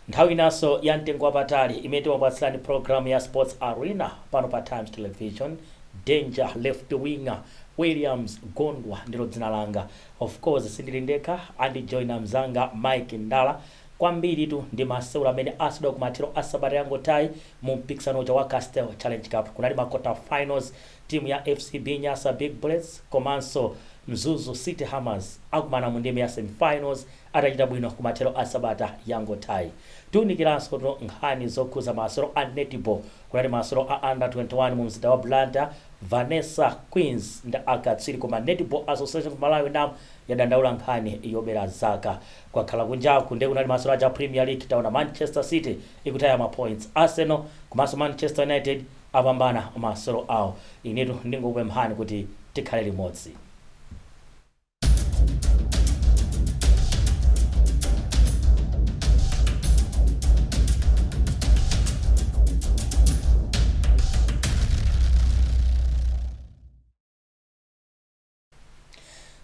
nthawi inanso ya mtengo wapatali imene timapatsirani programu ya sports arena pano pa times television danger left winger williams gondwa ndilo dzina langa of course sindili ndekha andijoina mzanga mike ndala Kwambiritu ndi masewero amene aseweredwa kumathero a sabata yangothayi mu mpikisano uja wa Castel Challenge Cup. Kunali ma quarter finals timu ya FCB Nyasa Big Bullets komanso Mzuzu City Hammers akumana mu ndime ya semifinals atachita bwino kumathero a sabata yangothayi. Tiunikiransotu nkhani zokhudza masewero a netball. Kunali masewero a Under 21 mu mzinda wa Blantyre. Vanessa Queens ndi akatswiri koma Netball Association of Malawi, NAM, yadandaula nkhani yobera zaka. Kwakhala kunjaku nde kunali masewero aja a Premier League taona Manchester City ikutaya ma points, Arsenal komanso Manchester United apambana masewero awo. Inetu ndingokupemphani kuti tikhale limodzi.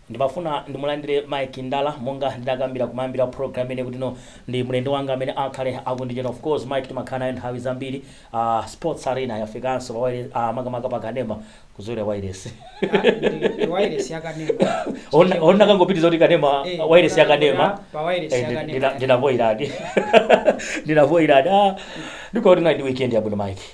Ndimafuna ndimulandire Mike Ndala monga ndinakambira kumayambiro a program ineyi kuti no ndi mlendo wanga amene akhale akundijoina. Of course Mike timakhala naye nthawi zambiri. Uh, Sports Arena yafikanso pa wailesi uh, makamaka pa kanema kuzolowera wailesi. Ah, ndi- ndi wireless ya kanema Ona ona kangopitiza kuti kanema Eh, wailesi ya kanema. pa wireless Eh, ya ndi- kanema. ndina- ndinavoiradi. Ndinavoiradi. Ah, ndiko kuti na ndi weekend yabwino Mike.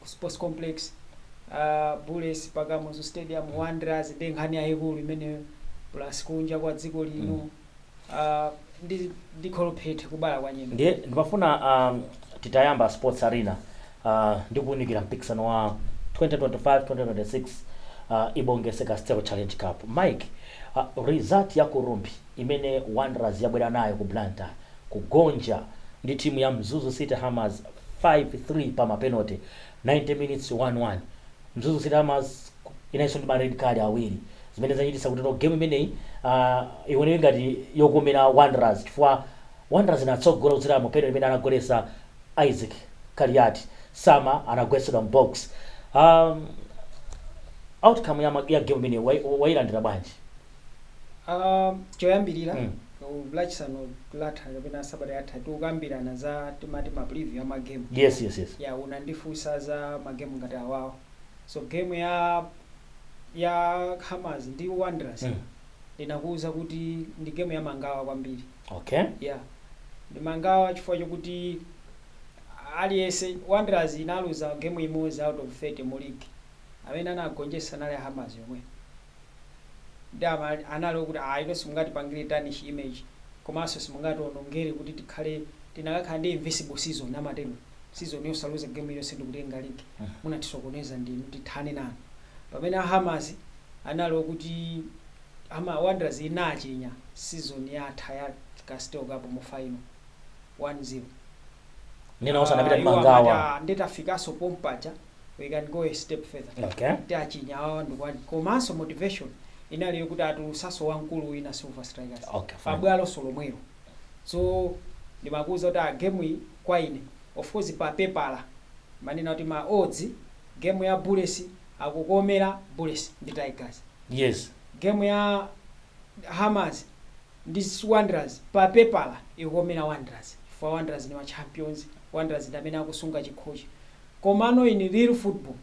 ku sports complex uh, bullets pa kamuzu stadium wanderers ndi nkhani yayikulu imeneyo plus kunja kwa dziko lino uh, ndi ndi kholophethe kubala kwa nyemba ndiye ndimafuna um, titayamba sports arena uh, ndi kuunikira mpikisano wa 2025-2026 uh, ibongese castel challenge cup mike uh, result ya ku rumphi imene wanderers yabwera nayo ku blantyre kugonja ndi timu ya Mzuzu City Hammers 5 3 pa ma penote, 90 minutes 1 1. Mzuzu City Hammers inalinso ndi ma red card awiri zimene zachititsa kutino game imeneyi uh, ioneke ngati yokomera Wanderers chifukwa Wanderers inatsogola kudzera mu penote imene anagoletsa Isaac Kaliati Sama anagwetsedwa m'box um, outcome ya, ma- ya game imeneyi wai- wailandira bwanji? Ah, choyambirira Mm. lachisanu latha kapena sabata yatha tinkakambirana za timati ma preview ya magemu yes yes yes ya unandifunsa za magemu ngati amenewo so game ya ya hammers ndi wanderers Mm. ndinakuwuza kuti ndi game ya mangawa kwambiri okay ya ndi mangawa chifukwa chokuti aliyense wanderers inaluza game imodzi out of 30 mu league amene anagonjetsa anali hammers yomwe ndiye anali okuti inu simungatipangire tarnish image komanso simungatiwonongere kuti tikhale tinakakhala ndi invisible season amatero season yosaluza game iliyonse ndikutenga league munatisokoneza ndinu tithane nanu pamene a hammers anali okuti wanderers inachinya season yatha ya castel cup mu final 1 0 Nde onse anapita ndi mangawa. "Ah, nde tafikaso pompaja we can go a step further Okay. titachinya awa ndikuwina komanso motivation inali yokuti atulusaso wamkulu wina silver strikers Okay, fine. pabwaloso lomwelo so ndimakuuza kuti game iyi kwa ine of course pa pepala manena kuti ma odds game ya bullets akukomera bullets ndi tigers Yes. game ya hammers ndi wanderers pa pepala ikukomera wanderers chifukwa wanderers ndi ma champions wanderers ndi amene akusunga chikhochi komano in real football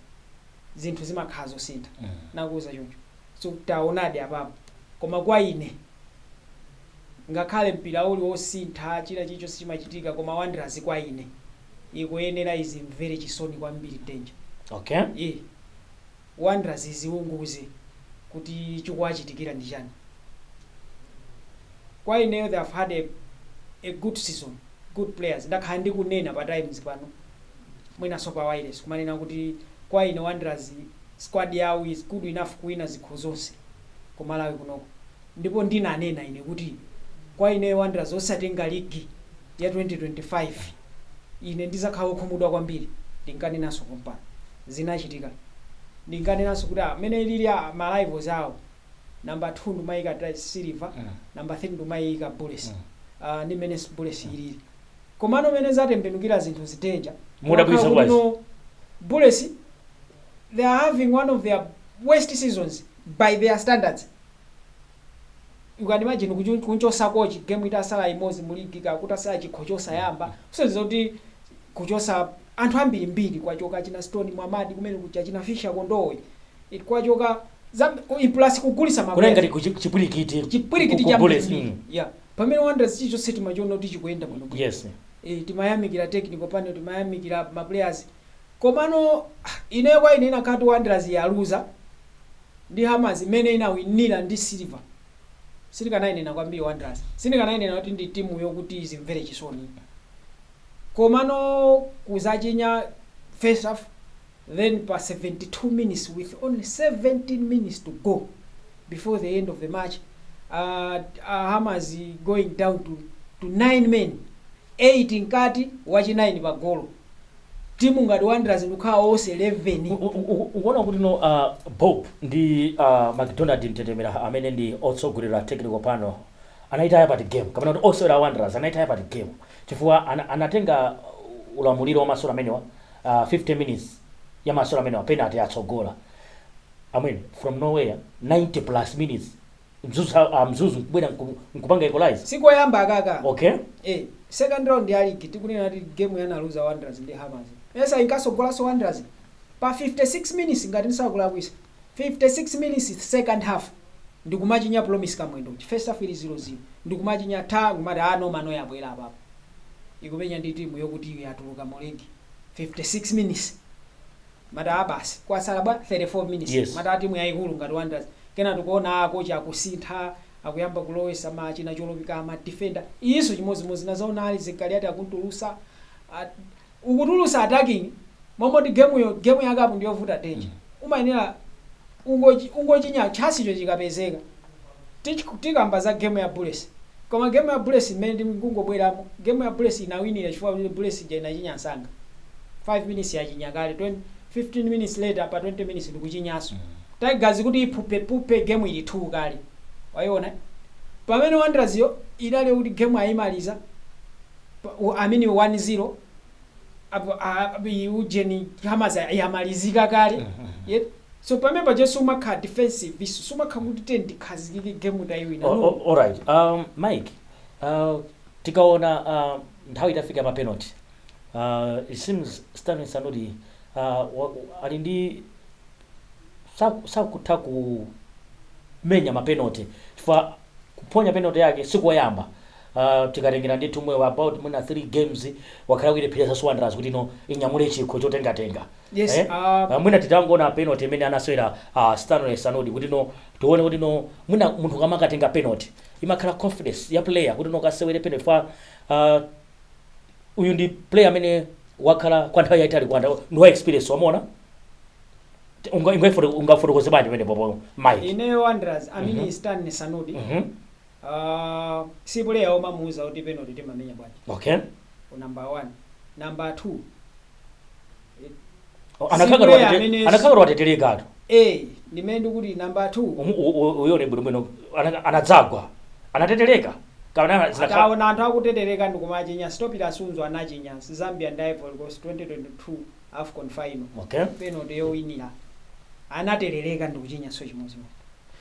zinthu zimakhala zosintha ndinakuuza choncho so taonadi apapo koma kwa ine ngakhale mpira uli wosintha china chilichonse chimachitika koma wanderers kwa ine ikuyenera izimvere chisoni kwambiri danger okay yeah. Wanderers izifunse kuti chikuwachitikira ndi chani kwa ineyo they have had a a good season good players ndakhala ndikunena pa times pano mwinanso pa wireless kumanena kuti kwa ine Wanderers squad yawo is good enough kuwina zikho zonse ku Malawi kunoko ndipo ndinanena ine kuti kwa ineyo Wanderers osatenga ligi ya 2025 Ine ndidzakhala wokhumudwa kwambiri, ndinkanenanso pompano. Zinachitika. Ndinkanenanso kuti, mmene alili, ma rivals awo, number 2 ndimaiyika Silver, number 3 ndimaiyika Bullets. Ndi mmene Bullets ilili. Komano mmene zatembenukira zinthu izi danger. Modabwitsa bwanji? Bullets, they are having one of their worst seasons by their standards. you can imagine kunchosa coach game itasala imozi mu league kaya kutasala chikho chosayamba kusonyeza kuti kuchosa anthu ambiri mbiri kwachoka achina stone mwamadi kumene kuja kaya achina fisha kondowe kwachoka zambiri mbiri plus kugulisa ma players. kunali ngati chipwirikiti ku Bullets, yeah pamene wanderers chichonse timachiona kuti chikuyenda bwino bwino yes eh, timayamikira technical panel timayamikira maplayers Komano ineyo kwa ine inakakhala kuti Wanderers yaluza ndi Hammers imene inawinira ndi Silver sindikanainena kwambiri Wanderers sindikanainena kuti ndi timu yokuti izimvere chisoni iyi komano kuzachinya first half then pa 72 minutes with only 17 minutes to go before the end of the match uh, uh, Hammers going down to, to 9 men 8 mkati wachi 9 pa golo timu ngati Wanderers ndikukhala ose 11 U- u- u- ukuona kuti no uh, Bob ndi uh, McDonald Mtetemera amene ndi otsogolera technical panel anayitaya pati game, kapena kuti osewera Wanderers anayitaya pati game chifukwa ana, anatenga ulamuliro wa masewero amenewa uh, 50 minutes ya masewero amenewa penalty atsogola amwene from nowhere 90 plus minutes mzuzu a mzuzu kubwera nku- nkupanga equalize sikoyamba akaka okay eh second round ya league tikunena kuti game yanaluza Wanderers ndi Hammers esa inkasogolaso Wanderers pa 56 minutes ngati ndisakulakwisa 56 minutes second half ndikumachinya Promise Kamwendo first half ili 0-0 ndikumachinya nkumati ah no manoma yabwera apapo ikumenya ndi timu yokuti iyo yatuluka mu league 56 minutes Mataa basi kwatsala bwa 34 minutes Yes. mataa timu yaikulu ngati Wanderers kena tikuona a coach akusintha akuyamba kulowesa ma achina Cholopika ma defender iziso chimodzimodzi nazaona Isaac Kaliati akuntulusa a, ukutulusa attacking momoti game yo game ya cup ndiyovuta danger umayenera ungochi ungochinya chasicho chikapezeka tikamba za game ya Bullets koma game ya Bullets imene ndikungobweramo game ya Bullets inawinira chifukwa kuti Bullets ija inachinya msanga 5 minutes yachinya kale 20 15 minutes later pa 20 minutes ndikuchinyaso Tigers kuti iphupe phupe game ili 2 kale waiona pamene Wanderers yo inaona kuti game ayimaliza pa- u- I mean 1-0 apo a- a- i- ujeni Hammers yamalizika kale yet so pamene paja sumakhala defensive iso sumakhala kuti tiye tikhazikike game tayiwina O- no o- alright um, Mike uh, tikaona uh, nthawi itafika ya mapenalty uh, it seems Stanley Sanudi uh, wa- wa- ali ndi saku- sakutha kumenya mapenalty chifukwa kuphonya penalty yake sikoyamba Uh, tikatengera ndithu mwe wa about mwina 3 games wakhala kuilepheresa Wanderers kuti no inyamule chikho chotengatenga Yes, eh? ah. Ah, mwina titangoona penalty imene anasewera uh, Stanley Sanudi kuti no tione kuti no mwina munthu kamakatenga penalty imakhala confidence ya player kuti no kasewere penalty fa uh, uyu ndi player amene wakhala kwa nthawi yaitali ku Wanderers ndi wa experience wamona ungafotokoze bwanji pamene popo Mike ineyo Wanderers I mean Stanley Sanudi Mhm. Aaa si puleya omamuuza kuti penoti timamenya bwanji Okay. ku namba 1 namba 2 O, Si Anakakhala player watete- amene- anakakhala wateterekatu. a ndimene ndikuti namba 2 Umu- u- u- Uyone bwinobwino ana- anadzagwa. Anatetereka. Kapena ana- zinakhala- ataona anthu akutetereka ndikumachinya stoppila sunzu anachinya zambia ndi ivory coast 2022 afcon final Okay. penalty yowinira anaterereka ndikuchinyanso chimodzimodzi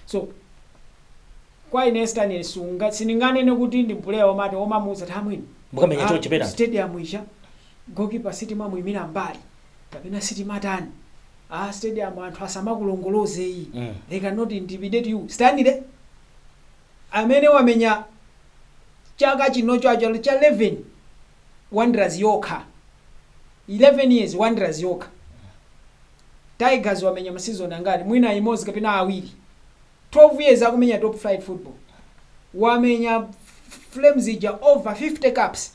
so Kwa ine Stanley Sunga sindinganene kuti ndi puleya omati omamuuza kuti amwene Mukamenya chonchi penalty. stadium ija goalkeeper sitimamuimira mbali kapena sitimatani aa stadium anthu asamakulongoloze iyi they can not intimidate you Stanley amene wamenya chaka chino chaka cha 11 Wanderers yokha 11 years Wanderers yokha Tigers wamenya ma season angati mwina imodzi kapena awiri 12 years akumenya top flight football wamenya flames ija over 50 caps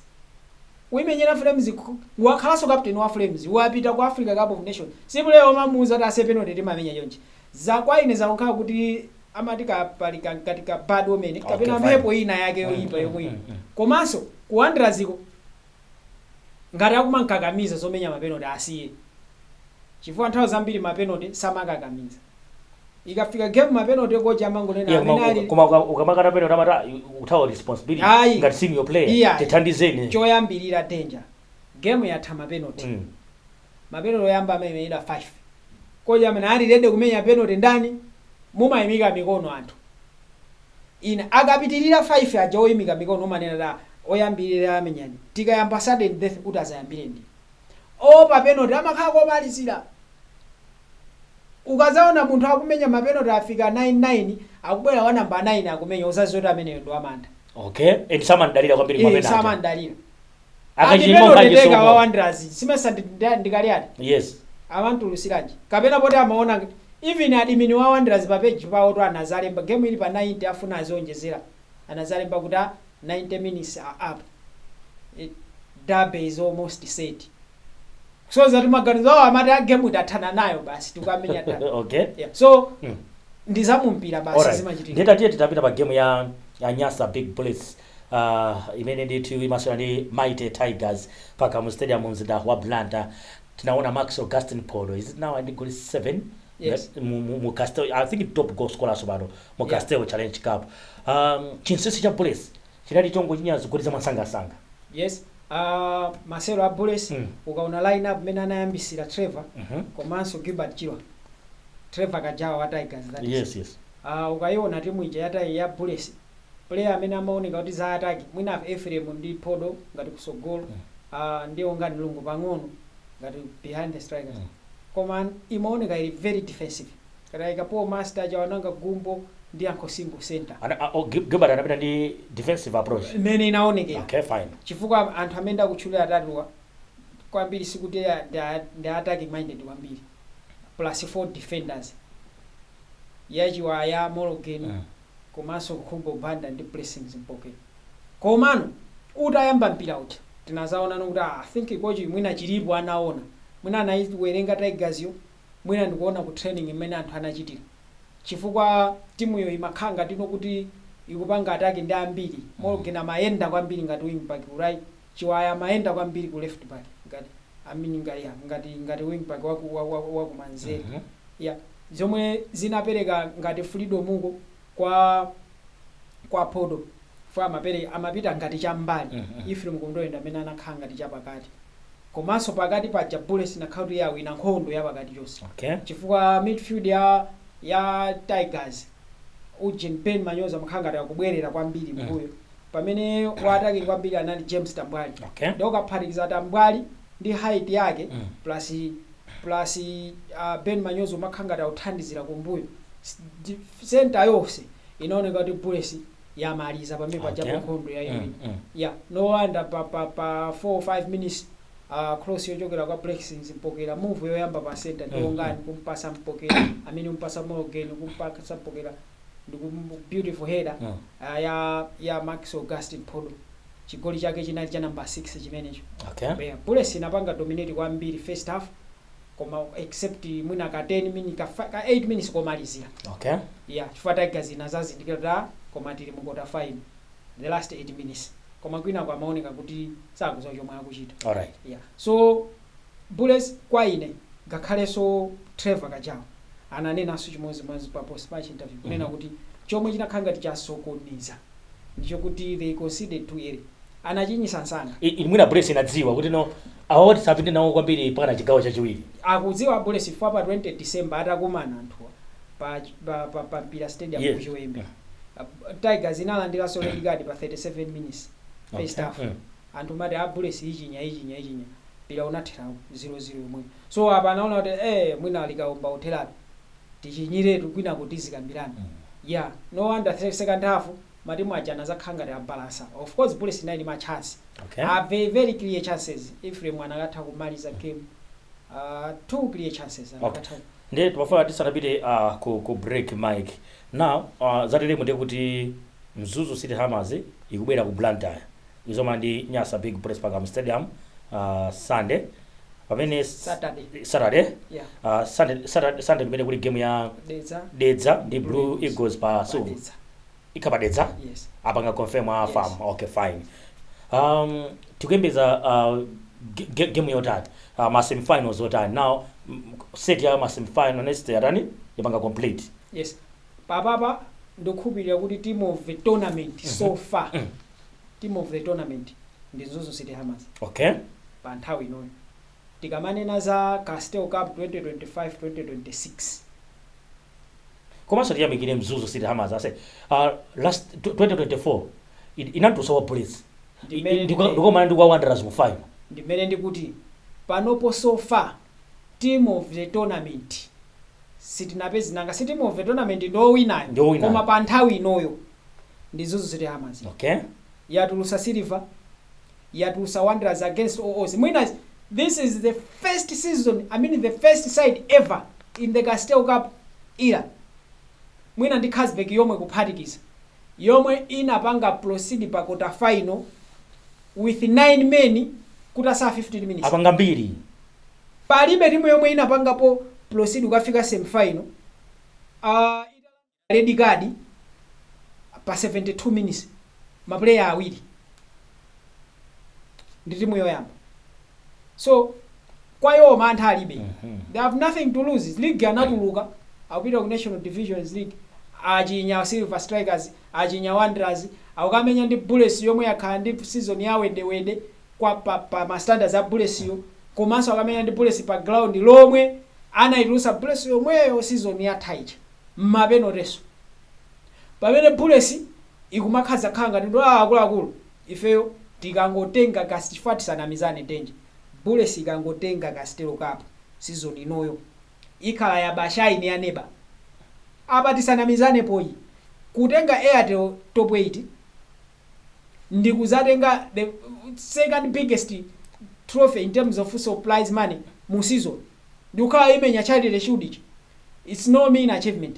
kuimenyera flames ku- wakhalanso captain wa flames wapita ku africa cup of nation si player omamuuza kuti ase penalty timamenya chonchi za kwa ine zikukhala kuti amati kapali kankati ka bad omen kapena Okay, fine. mphepo ina yake yoyipa yomwe ino komanso ku wanderers ko Ngati akumamkakamiza zomenya mapenoti asiye chifukwa nthawi zambiri mapenoti samakakamiza. Ikafika game mapenoti kochi amangonena Yeah, koma, amene ali koma uka- ukamakana penalty amati "Ah, you- ukuthawa responsibility Ayi. ngati senior player Iyayi. tithandizeni choyambirira danger game yatha mapenoti. Mm. Mapenoti oyamba amamenyedwa 5. Kochi amene ali ready kumenya penoti ndani? Mumaimika mikono anthu inu akapitilira 5 aja oimika mikono umanena kuti ah oyambilira amenyani tikayamba sudden death oti azayambire ndine. Oopa penoti amakhala komalizira. Ukazaona munthu akumenya mapenoti afika 9 9 akubwera wa number 9 akumenya uzaziwe kuti ameneyo ndi wamantha. Okay and samamdalira kwambiri eh kumapena aja. samamdalira. Akachilima Andipendo Mphaji teteka Soko. wa wanderers simesa ndi- ndi- ndi kaliati Yes. amamtulutsiranji kapena poti amaona ngt- even admin wa wanderers pa page pawotu anazalemba game ili pa 90 afuna azionjezera anazalemba kuti a 90 minutes are up Eh, derby is almost set so zoti maganizo awo amati a game itathana nayo basi tikamenya derby Okay. yeah. so Mm. ndizamumpira basi Alright. zimachitika Nde tatiye titapita pa game ya ya Nyasa Big Bullets uh, imene ndithu imasewera ndi mighty tigers pa kamuzu stadium mu mzinda wa blantyre tinaona max gasten phodo is it now ndi goli 7 Yes. mu, mu, mu castel i think top goal scorer tsopano mu Yeah. castel challenge cup um, chinsisi cha bullets chinali chongochinya zigoli za mwansangansanga yes uh, masewero a bullets Mm. ukaona line up imene anayambitsira trevor Mhm. komanso gilbert chirwa trevor kajawa wa tigers that is. yes yes uh, ukayiona timu ija ya tai- ya bullets player amene amaoneka kuti za ataki mwina apa Ephraim ndi Phodo ngati kusogolo uh, ndi Wongani Lungu pang'ono ngati behind the strikers koma imaoneka ili very defensive ngati ayika Paul Master Chawanangwa Gumbo ndi Yankho Singo center Ana, a, o, Gil- Gilbert anapita ndi defensive approach imene inaonekera okay fine chifukwa anthu amene ndakutchulira atatuwa kwambiri sikuti a- ndi a- ndi attacking minded kwambiri plus four defenders ya Chiwaya Mologeni Mm. komanso Khumbo Banda ndi Blessings Mpokera komano utayamba mpira uja tinazaonano kuti aah I think kochi mwina chilipo anaona mwina anaiwerenga Tigers yo mwina ndi kuona ku training mmene anthu anachitira chifukwa timuyo imakhala ngatino kuti ikupanga attack ndi ambiri Mologeni amayenda kwambiri ngati wing back ku right Chiwaya amayenda kwambiri ku left back ngati I mean ngati yeah ngati ngati wing back waku wa, wa, wa kumanzere. Mhm. Yeah. Zomwe zinapereka ngati freedom uko kwa kwa Phodo fo amapere amapita ngati cham'mbali. Mhm. Ephraim Kondowe ndi amene anakhala ngati chapakati. Komanso pakati paja Bullets inakhala kuti yawina nkhondo ya pakati chonse. Okay. Chifukwa midfield ya ya Tigers ujeni Ben Manyozo amakhala ngati akubwerera kwambiri Mhm. mmbuyo. pamene wa attack kwambiri anali James Tambwali okay. nde ukaphatikiza Tambwali ndi height yake mm. plus, plus uh, Ben Manyozo amakhala ngati akuthandizira kumbuyo center yonse inaoneka kuti Bullets yamaliza pamene okay. pajapo nkhondo yaiwina mm, mm. yeah. no wonder pa, pa, pa 4 or 5 minutes uh, cross yochokera kwa Blessings Mpokera move yoyamba pa center ndi Wongani mm, mm. kumpasa Mpokera amene umpasa Mologeni kumpasa Mpokera Ndiku beautiful header Mm. ah, ya ya Max Gasten Phodo. Chigoli chake chinali cha number 6 chimenecho. Okay. Yeah, Bullets inapanga dominate kwambiri first half koma except mwina ka 10 minutes ka, fi- ka 8 minutes komalizira. Okay. Yeah, chifukwa Tigers inazazindikira kuti ah, koma tili mu quarter final the last 8 minutes. Koma kwinako amaoneka kuti sakudziwa chomwe akuchita. All right. Yeah. So Bullets kwa ine ngakhaleso Trevor Kajawa ananenanso chimozimozi pa post match interview kunena kuti chomwe chinakhala ngati chasokoneza ndichokuti they conceded too early anachinyisa msanga. I, i, mwina Bullets inadziwa kuti no awawa tisapite nawo kwambiri mpakana chigawo chachiwiri. Akudziwa Bullets chifukwa pa 20 December atakumana anthuwa pa, pa, pa, pa Mpira Stadium ku Yes. Chiwembe Tigers inalandilanso red card pa 37 minutes first Okay. half. Mm. anthu kumati a bullets ichinya ichinya ichinya mpira unathera 0 0 yomweyo so apa anaona kuti ee mwina likaomba kutheratu tichinyiretu kwinaku tizikambirana yeah no wonder se- second half matimu aja anazakhala ngati abalansa of course bullets inali ndi ma chance okay a very very clear chances Ephraim anakatha kumaliza game uh, two clear chances okay anakatha ndiye timafuna tisanapite uh, ku, ku break mike now uh, zateremu ndiye kuti mzuzu city hammers ikubwera ku blantyre Mzoma ndi Nyasa Big Bullets pa Kamuzu Stadium uh, Sunday pamene s- Saturday. Saturday Yeah. uh, Sunday Saturday Sunday kumene kuli game ya Dedza. Dedza ndi Blue Eagles pa Silver Dedza. ikha pa Dedza Yes. apanga confirm a Yes. farm okay fine um tikuyembeza uh, ge- ge- game yotani uh, ma semifinals yotani now mm, set ya ma semifinal next yatani ipanga complete Yes. Apapa ndikukhulupilira kuti team of the tournament so far team of the tournament ndi Mzuzu City Hammers okay pa nthawi inoyo. Tikamanena za Castel Cup 2025-2026 komanso tiyamikire mzuzu city hammers ase uh, last tw- 2024 in- inatulutsa bullets Ndi mmene- ndikukomana ndi wanderers mu final ndimene ndikuti panopo so far team of the tournament sitinapeze nanga si team of the tournament ndi owinayo Ndi owinayo. koma pa nthawi inoyo ndi mzuzu city hammers okay yatulusa silver yatulusa wanderers against all odds mwina this is the first season i mean the first side ever in the castel cup era mwina ndi Carlsberg yomwe kuphatikiza, yomwe inapanga proceed pa quarter final with 9 men kutasala 15 minutes. Apanga mbiri. Palibe timu yomwe inapangapo proceed kukafika semi final uh, italandira red card pa 72 minutes ma player awiri. ndi timu yoyamba so kwa iwo mantha alibe they have nothing to lose league anatuluka akupita ku national division league achinya silver strikers achinya wanderers akukamenya ndi bullets yomwe yakhala ndi season ya wedewede kwa pa, pa ma standards a bullets yo komanso akamenya ndi bullets pa ground lomwe anayitulusa bullets yomweyo season yatha ija mmapenateso pamene bullets ikumakhazakhala ngati kuti aah akuluakulu ifeyo tikangotenga castel chifukwa tisanamizane danger bullets ikangotenga castel cup season inoyo ikhala ya bashaini ya neba apa tisanamizanepo apa kutenga airtel top 8 ndikuzatenga the second biggest trophy in terms of prize money mu season ndikukhala imenya charity shield ija its no mean achievement.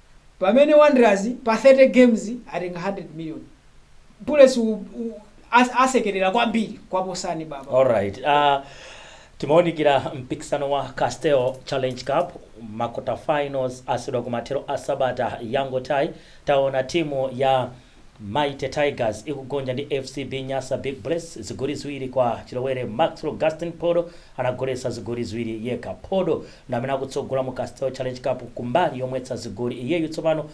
pamene Wanderers pa 30 games atenga 100 million. Bullets u, u, as, asekerera kwambiri kuwaposani baba. Alright. Uh, timaonikira mpikisano wa Castel Challenge Cup makota finals aseweredwa kumathero a sabata yangothayi taona timu ya Mighty Tigers ikugonja ndi FCB Nyasa Big Bullets zigoli ziwiri kwa chilowere. Maxwell Gastin Phodo anagoletsa zigoli ziwiri yekha. Phodo ndi amene akutsogola mu Castel Challenge Cup ku mbali yomwetsa zigoli. Iyeyu tsopano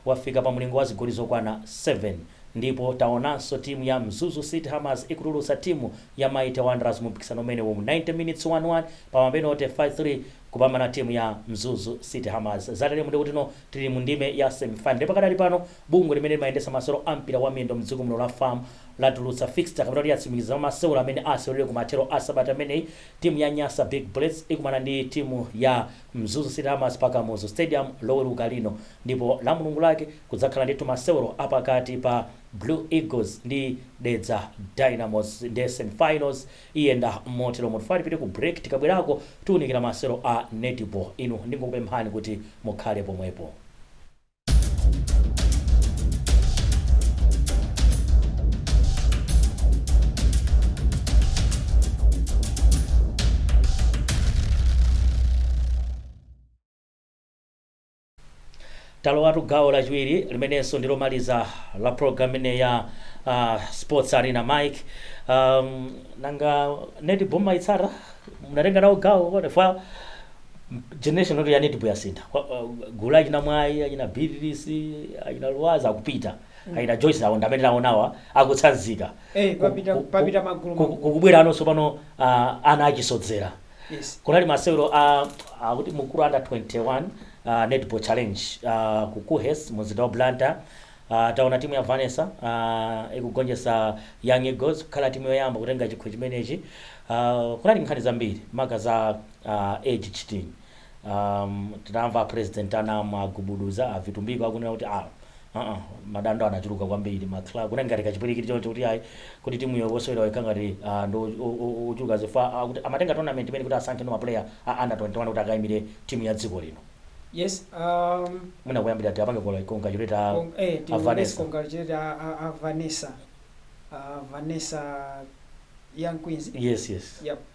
wafika pa mulingo wa zigoli zokwana 7. Ndipo taonanso timu ya Mzuzu City Hammers ikutulutsa timu ya Mighty Wanderers mu mpikisano umenewu. Mu 90 minutes 1-1 pa mapenote 5-3 kupambana timu ya Mzuzu City Hammers. Zateremu ndiye kuti tili mu ndime ya semifinal. Ndipo pakadali pano Bungwe limene limayendetsa masewero a mpira wa miyendo mdziko muno la FAM latulutsa fixture kapena kuti yatsimikiza za masewero amene aseweredwe ku mathero a sabata imeneyi. Timu ya Nyasa Big Bullets ikumana ndi timu ya Mzuzu City Hammers pa Kamuzu Stadium loweruka lino ndipo la mulungu lake kudzakhala ndithu masewero a pakati pa Blue Eagles ndi Dedza Dynamos nde semifinals iyenda motero. Mutilole tipite ku break tikabwerako tiunikira masewero a netball inu ndingokupemphani kuti mukhale pomwepo. talowatu gawo lachiwiri limenenso ndi lomaliza la program imene ya uh, sports arena mike um, nanga netball mwaitsata munatenga nawo gawo kwa Generation ya netball yasintha Kwa- uh, gulu la achina mwayi achina Beatrice achina luwaza akupita achina joyce awo ndamene taonawa akutsanzika Eh, Ku- papita- ku- papita ku- magulu ku- magulu. kukubwera anonso pano ah, ana achisodzera yes kunali masewero a akuti Mukuru under 21 uh, netball challenge uh, ku KUHeS mumzinda wa blantyre uh, taona timu ya vanessa uh, ikugonjetsa young eagles kukhala timu yoyamba kutenga chikho chimenechi uh, kunali nkhani zambiri maka za Aaa age cheating aam tinamva a president a NAM a Gubuduza a Vitumbiko akunena kuti aah aa madando anachuluka kwambiri ma club kunali ngati kachipwilikiti choncho kuti ayi kodi timu yo osewerawo ikhala ngati aah ndi ochuluka zifukwa akuti amatenga tournament imeneyi kuti asankhenso ma player a under 21 kuti akaimire timu ya dziko lino Yes aam. mwina kuyambira tiapange congratulate a Cong eh a tiwapangese Vanessa. congratulate a a a Vanessa aah Vanessa young queens Yes yes. yap.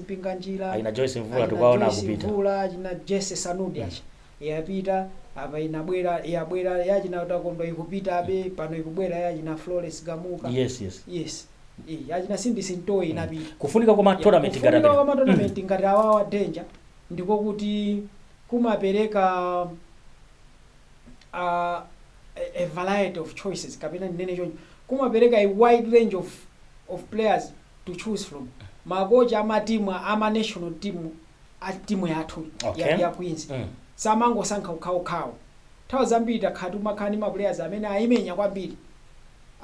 mpinganjira Achina Joyce Mvula achina tikuwaona Joyce akupita. Mvula, achina Jesse Sanudi yapita apa inabwera yabwera yachina Takondwa ikupita abe pano ikubwera yachina Florence Gamuka Yes, yes. yes Eh, yachina Sindi Simtowe inapita Kufunika kwa ma tournament ngati kufunika kwa amene. matournament ngati awawa Danger ndiko kuti kumapereka uh, a, a variety of choices kapena ndinene choncho kumapereka a wide range of, of players to choose from makocha a ma team a ma national team a team yathu ya, Okay. ya Queens Mm. samangosankha okhaokhawo nthawi zambiri takhala timakhala ndi ma players amene ayimenya kwambiri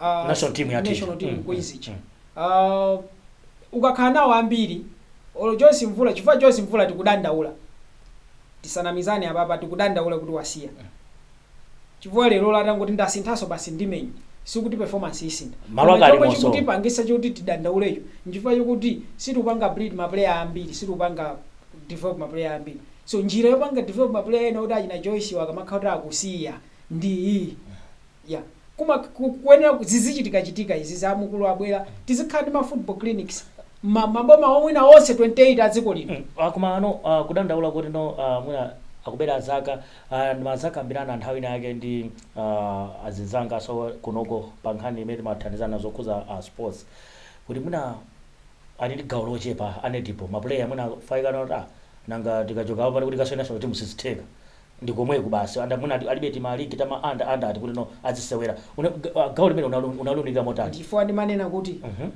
ah, National team yathu. national team Mm, Queens mm, ija. Ah, ukakhala nawo ambiri olo Joyce Mvula chifukwa Joyce Mvula tikudandaula tisanamizane apapa tikudandaula kuti wasiya chifukwa lerolo atangoti ndasinthaso basi ndimenya sikuti performance isintha Malo koma ake chomwe alimoso. chikutipangisa choti tidandaulecho nchifukwa chokuti sitikupanga breed ma player ambiri sitikupanga develop ma player ambiri so njira yopanga develop ma player ena oti achina Joyce wa akamakhala kuti akusiya ndi iyi ya kuma ku- kuyenera ku- zizichitikachitika izi za mukulu abwera tizikhala ndi ma football clinics ma- maboma mwina onse 28 a dziko lino Mm, ah, koma ano ah, kudandaula kuti no ah, mwina akubera zaka Aaa ndimazakambirana nthawi ina yake ndi aah azinzangaso kunoko pa nkhani imene timathandizana zokhuza a sports kuti mwina ali ndi gawo lochepa a Nedipo ma player mwina faikana kuti aah nanga tikachoka apa pano kuti tikasowe national team sizitheka ndikomweku basi and mwina alibe tima league tama under under ati kuti no azisewera una aah gawo limenelo unalu unaluunika motani? Ndichifukwa ndimanena kuti mmh.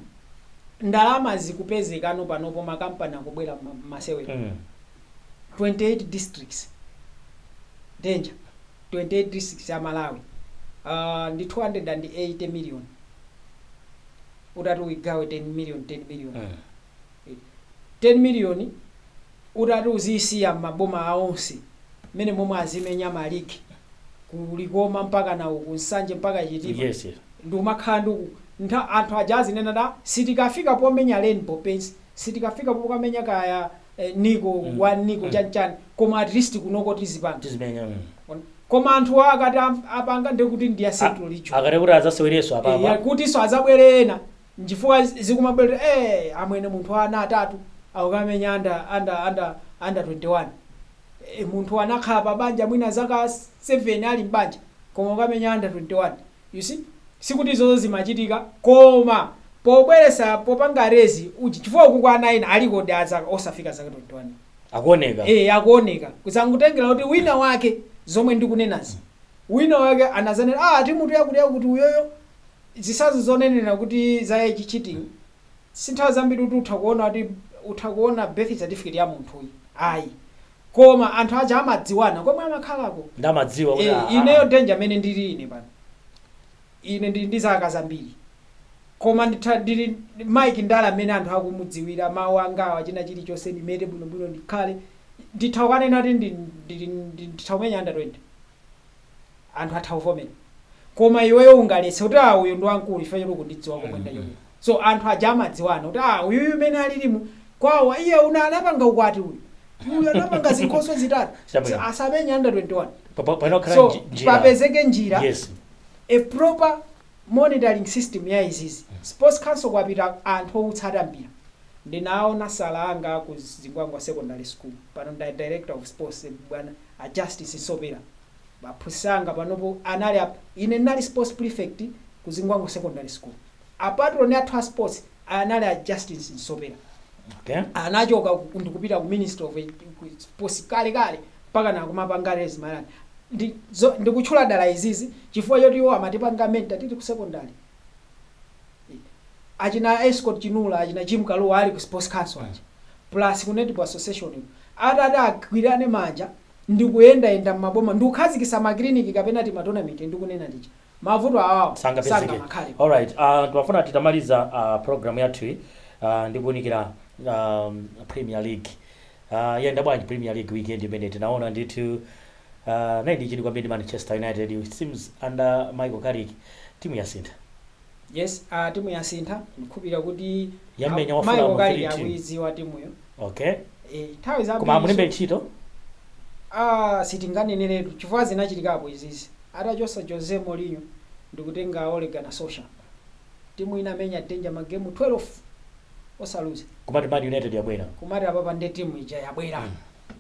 ndalama zikupezekano panopo ma company akubwera mma mmasewero. mmh. 28 districts danger 28 districts a Malawi uh, ndi 280 million utati uigawe 10 million 10 million Mm. 10 million utati uzisiya maboma aonse mmene momwe azimenya maligi ku Likoma mpaka na uku Nsanje mpaka Chitipa yes yes. nkumakhala ndi uku ntha anthu aja azinena da sitikafika pomenya Rainbow Paints sitikafika pokamenya kaya eh, Nico Mm. wa Nico Mm. chanichani koma at least kunoko tizipanga tizimenya mm. koma anthu akati am- apanga ndekuti ndi ya central region akati kuti adzasewereso Eh, apapa yakutinso azabwere ena nchifukwa zikumabwera eh amwene munthu wa ana atatu akukamenya under under under under 21 eh, munthu anakhala pa banja mwina zaka 7 ali mbanja koma akukamenya under 21 You see sikuti izozo zimachitika koma pobweresa popanga raise uchi chifukwa ukuku ana ena alikodi a zaka osafika zaka 21 akuoneka eh akuoneka kuzangotengera kuti wina wake zomwe ndikunenazi wina wake anazanenera timu yakuti yakuti uyoyo zisazo zonenera kuti za age cheating sinthawi zambiri kuti uthe kuona kuti utha kuona birth certificate ya munthu uyu ayi koma anthu aja amadziwana komwe amakhalako Nde amadziwa kuti ee ah ineyo ah. Danger mmene ndili ine pano ine ndili ndi zaka zambiri koma nditha ndili Mike Ndala mmene anthu akumudziwira mawu angawa china chilichonse ndimete bwinobwino ndikhale nditha kukanena kuti ndi ndili ndi nditha kumenya under 20 anthu atha kuvomera koma iweyo ungaletse kuti aah uyu ndi wamkulu chifukwa choti ukundidziwa komwe ndachokera so anthu aja amadziwana kuti aah uyuyu amene alilimu kwawo ayi uyu anapanga ukwati uyu uyu anapanga zinkhoswe zitatu Chabwino. so asamenye under 21 Pa- pa- pano khala so nji- njira. papezeke njira yes a proper monitoring system ya izizi sports council kwapita anthu outsata mpira ndinaona sir anga ku zingwangwa secondary school pano ndi director of sports bwana A Justice Nsopera aphunzitsi anga panopo anali a ine ndinali sports prefect ku Zingwangwa Secondary School. A patron athu a sports anali a Justice Nsopera. Okay. Anachoka ku- ndikupita ku Ministry of Edu- ku sports kale kale mpaka na kumapanga rise mu line. Ndi zo- ndikutchula dala izizi chifukwa choti iwo amatipanga mentor tili ku secondary. achina Escort Chinula achina Jim Kalua ali ku sports council aja plus ku netball association kuja atati agwirane manja ndikuyendayenda mmaboma ndikukhazikitsa ma clinic kapena tima tournament ndikunena tija mavuto awawa sangapezeke sangamakhale alright uh, twafuna titamaliza uh, program yathu iyi uh, ndikuunikira um, premier league uh, yenda bwanji premier league weekend imene tinaona ndithu Uh, ndili ndi chidwi kwambiri ndi Manchester United. It seems under Michael Carrick timu yasintha. yes uh, timu yasintha ndikhupira kuti Yamenya wafuna Michael Carrick team. akuidziwa timuyo Okay. Eh, nthawi za Koma amulembe ntchito. ah sitinganeneretu chifukwa zinachitikapo izizi atachotsa jose mourinho ndikutenga ole gunnar solskjaer timu inamenya danger magemu 12 osaluza Kumati Man United yabwera. kumati apapa nde timu ija yabwera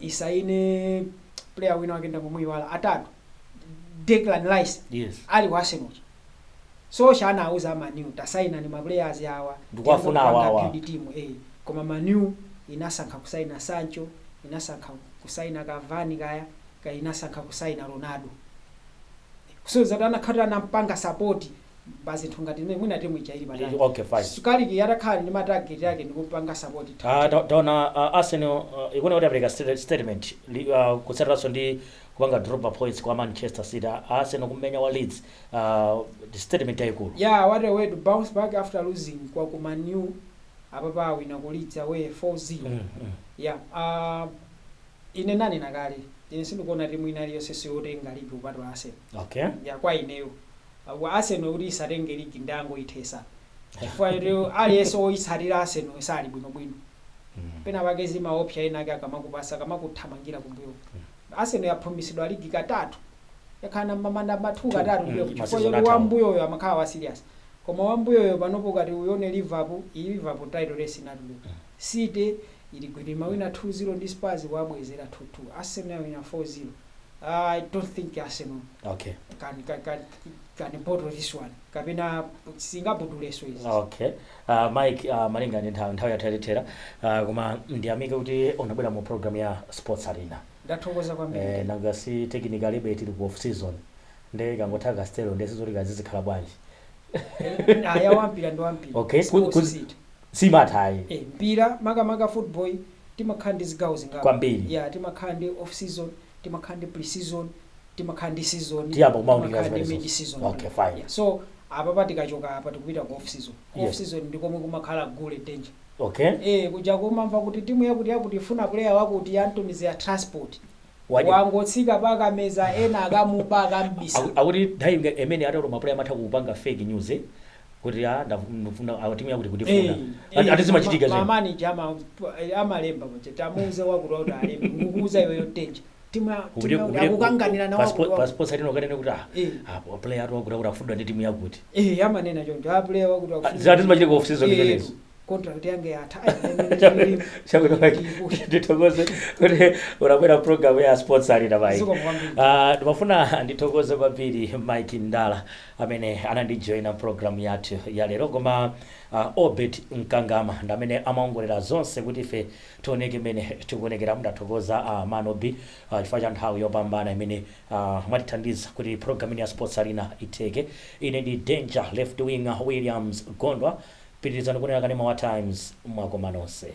isaine player wina wake ndamuyiwala atatu Declan Rice yes ali ku Arsenal Solskjaer anawauza Man U tasainani maplayers awa Ndikuwafuna Tiyambe kupanga awawa. build team eh koma Man U inasankha kusaina Sancho inasankha kusaina Cavani kaya kaya inasankha kusaina Ronaldo so atati anakhala anampanga support pa zinthu ngati zimene mwina timu ija ili patali Eh, okay, fine. So, Carrick atakhala ndi matageti ake ndikupanga sapoti Ah, ta- taona ah, arsenal ah, ikuona kuti apereka sta- statement li- ah, kutsatiranso ndi kupanga drop ma points kwa manchester city Ah, arsenal kumenya Leeds ah, ndi statement yayikulu yeah what a way to bounce back after losing kwa ku Man U apapa awina ku Leeds away 4-0 Mm, mm. yeah uh, ine nanena kale ine sindikuona timu ina iliyonse yotenga ligi kupatula arsenal okay ya kwa ineyo Arsenal kuti isatenge league ndiyangoyithetsa chifukwa choti aliyense oyitsatira Arsenal sali bwino bwino pena pake zimaopsa ena ake akamakupasa akamakuthamangira kumbuyo uko Arsenal yaphunzitsidwa league katatu yakhala namba ma namba 2 katatu ndilero ma chifukwa season choti athawo wambuyoyo amakhala wa serious koma wambuyoyo panopo ukati uyione Liverpool iyi Liverpool title race inatuluka City ili gwiriri imawina 2 0 ndi Spurs kuwabwezera 2 2 Arsenal yawina 4 0 Ah, I don't think Arsenal okay can can can, can bottle this one. Kapena singabuduleso izi. okay uh, mike uh, malinga ndi nthawi nthawi yathu yatithera uh, koma ndiyamike kuti unabwera mu program ya sports arena Ndathokoza eh, kwambiri. nanga si technically tili ku off season nde ikangotha Castel nde sizoti kazizikhala bwanji Aya wampira ndi wampira. okay Ku- Sports kuzi- seat. siimatha ayi. Eh mpira makamaka football timakhala ndi zigawo zingapo. Kwambiri. Yeah timakhala ndi off season, timakhala ndi pre season, timakhala ndi season, Timayamba kumaunikira timakhala ndi zimenezozo. mid season. Okay fine. Yeah so apapa tikachoka apa tikupita ku off season. Ku off Yes. season ndi komwe kumakhala gule danger. Okay. Eh kuja kumamva kuti timu yakuti yakuti ifuna player wakuti yamutumizira transport. Waja. Wangotsika pa Kameza ena akamuba akamubisa. Aku- Akuti nthawi inga- imene atu ma player amatha kupanga fake news eh. kuti a ndafu- ndifuna awa timu yakuti ikutifuna Ati- ati zimachitika zina mamanija amalemba kuti tamuuze wakuti kuti alembe ndikukuuza iweyo Danger timu ya- timu Ubide- yakuti ubide- akukanganira na paspo- wakuti wakuti. passports alino kanene kuti ah, Eh. ah, player atu wakuti akuti akufunidwa ndi timu yakuti Eh, amanena choncho apuleya wakuti Ah, ati zimachitika off season imenezo contract yanga yatha Chakwera Mike, ndithokoze kuti unabwera program ya sports arena Mike. Zikomo kwambiri. Ah, ndimafuna ndithokoze kwambiri Mike Ndala amene anandijoina program yathu ya lero koma ah, Obet Mkangama ndi amene amaongolera zonse kuti ife tioneke mmene tikuonekera ndathokoza ah, Mano B ah, chifukwa cha nthawi yopambana imene ah, mwatithandiza kuti program ya sports arena itheke ine ndi danger left winger Williams Gondwa Pitilizani kuonera kanema wa Times mwakoma nonse.